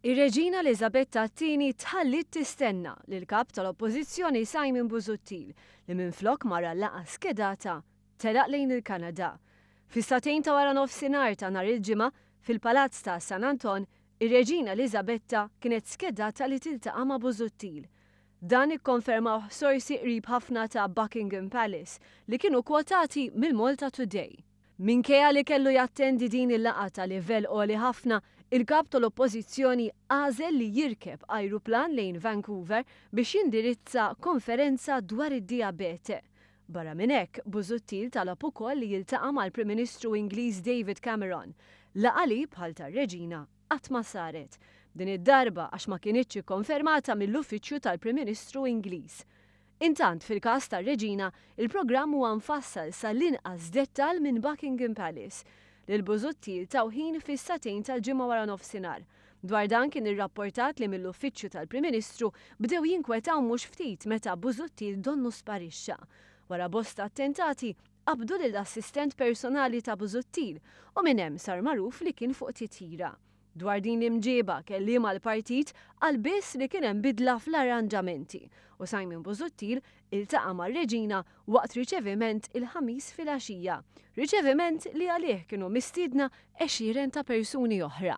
Ir-Reġina Eliżabetta t-Tieni tħalliet tistenna lill-Kap tal-Oppożizzjoni Simon Busuttil li minflok mar għal-laqgħa skedata, telaq lejn il-Kanada. Fis-sagħtejn ta' wara nofsinhar ta' nhar il-Ġimgħa, fil-Palazz ta' San Anton, ir-Reġina Eliżabetta kienet skedata li tiltaqa' ma' Busuttil. Dan ikkonfermawh sorsi qrib ħafna ta' Buckingham Palace li kienu kwotati mill-MaltaToday. Minkejja li kellu jattendi din il-laqgħa ta' livell għoli ħafna, il-Kap tal-Oppożizzjoni għażel li jirkeb ajruplan lejn Vancouver biex jindirizza konferenza dwar id-dijabete. Barra minn hekk, Busuttil talab ukoll li jiltaqa' mal-Prim Ministru Ingliż David Cameron, laqgħa li, bħal tar-Reġina, qatt ma saret. Din id-darba għax ma kinitx ikkonfermata mill-uffiċċju tal-Prim Ministru Ingliż. Intant, fil-każ tar-Reġina, il-programm huwa mfassal sa l-inqas dettall minn Buckingham Palace. Lil Busuttil taw ħin fis-sagħtejn tal-Ġimgħa waranofsinhar. Dwar dan kien irrapportat li mill-Uffiċċju tal-Prim Ministru bdew jinkwetaw mhux ftit meta Busuttil donnu sparixxa. Wara bosta attentati, qabdu lill-assistent personali ta' Busuttil u minn hemm sar magħruf li kien fuq titjira. Dwar din l-imġieba, kelliem għall-partit qal biss li kien hemm bidla fl-arranġamenti u Simon Busuttil iltaqa' ma' Regina waqt riċeviment il-Ħamis filgħaxija, riċeviment li għalih kienu mistiedna għexieren ta' persuni oħra.